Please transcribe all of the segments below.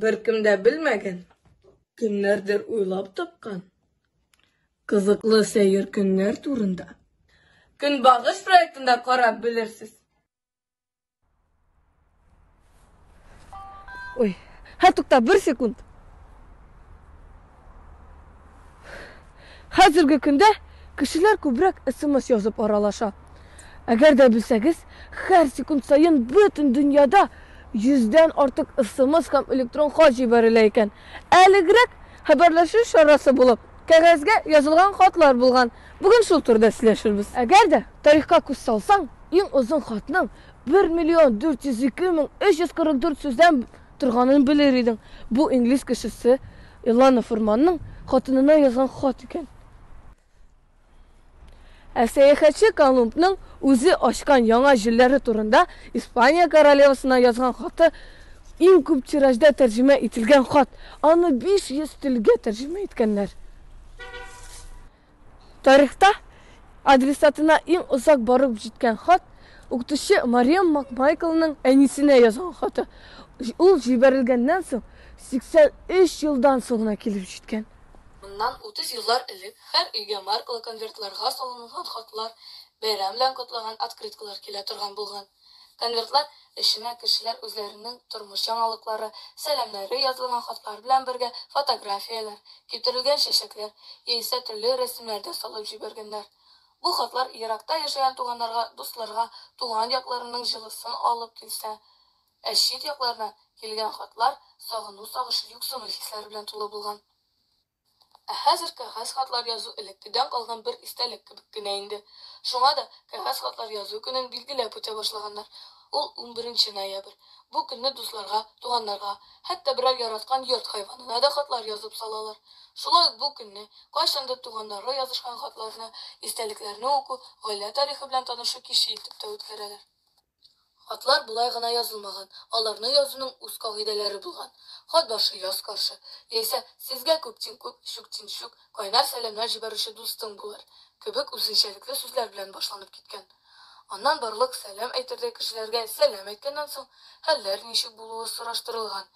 Беркем дә белмәгән, кемнәрдер уйлап тапкан кызыклы сәер көннәр турында Көнбагыш проектында карап белерсез. Ой, һә тукта, бер секунд. Хәзерге көндә кешеләр күбрәк смс язып аралаша. Әгәр дә белсәгез, һәр секунд саен бөтен дөньяда йөздән артык смс һәм электрон хат җибәрелә икән. Элегрәк хәбәрләшү чарасы булып, кәгазьгә язылган хатлар булган. Бүген шул турыда сөйләшербез. Әгәр дә тарихка күз салсаң, иң озын хатның бер миллион дүрт йөз ике мең өч йөз кырык дүрт сүздән Торганын белер идең, бу инглиз кешесе Илана Фурманның хатынына язган хат икән. Ә сәяхәтче Колумбның үзе ачкан яңа җирләре турында Испания королевасына язган хаты иң күп тиражда тәрҗемә ителгән хат, аны 500 телгә тәрҗемә иткәннәр. Тарихта адресатына иң озак барып җиткән хат, укытучы Мариам Макмайклның әнисенә язган хаты. Ул җибәрелгәннән соң 83 елдан соң гына килеп җиткән. Моннан 30 еллар элек һәр өйгә маркалы конвертларга салынган хатлар, бәйрәм белән котлаган открыткалар килә торган булган. Конвертлар эченә кешеләр үзләренең тормыш яңалыклары, сәламнәре язылган хатлар белән бергә фотографияләр, киптерелгән чәчәкләр яисә төрле рәсемнәр дә салып җибәргәннәр. Бу хатлар еракта яшәгән туганнарга, дусларга туган якларының җылысын алып килсә, ә чит яклардан килгән хатлар сагыну-сагышу-юксыну хисләре белән тулы булган. Ә хәзер кәгазь хатлар язу элеккедән калган бер истәлек кебек кенә инде. Шуңа да Кәгазь хатлар язу көнен билгеләп үтә башлаганнар. Ул унберенче ноябрь. Бу көнне дусларга, туганнарга, хәтта берәр яраткан йорт хайванына да хатлар язып салалар. Шулай ук бу көнне, кайчандыр туганнарга язышкан хатларны, истәлекләрне уку, гаилә тарихы белән танышу киче итеп тә үткәрәләр. Хатлар болай гына язылмаган, аларны язуның үз кагыйдәләре булган. Хат башы, яз каршы, яисә Сезгә күптин-күп, чүктин-чүк, кайнар сәламнәр җибәрүче дустың булыр, кебек үзенчәлекле сүзләр белән башланып киткән. Аннан барлык сәлам әйтердәй кешеләргә сәлам әйткәннән соң, хәлләр ничек булуы сораштырылган.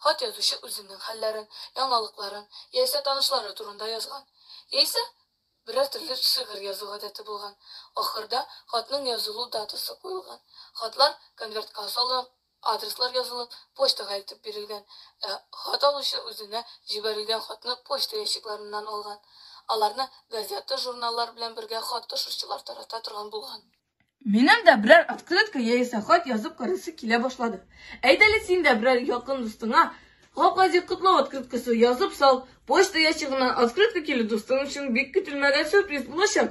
Хат язучы үзенең хәлләрен, яңалыкларын, яисә танышлары турында язган. Яисә, Берәр төрле шигырь язу гадәте булган. Ахырда хатның язылу датасы куелган. Хатлар конвертка салып, адреслар язылып, почтага илтеп бирелгән. Ә хат алучы үзенә җибәрелгән хатны почта ящикларыннан алган. Аларны газета-журналлар белән бергә хат ташучылар тарата торган булган. Минем дә берәр открытка яисә хат язып карасы килә башлады. Әйдәле син дә берәр якын дустыңа Гаплади котлау открыткасы язып сал, почта ящигыннан открытка килү дустың өчен бик көтелмәгән сюрприз булачак.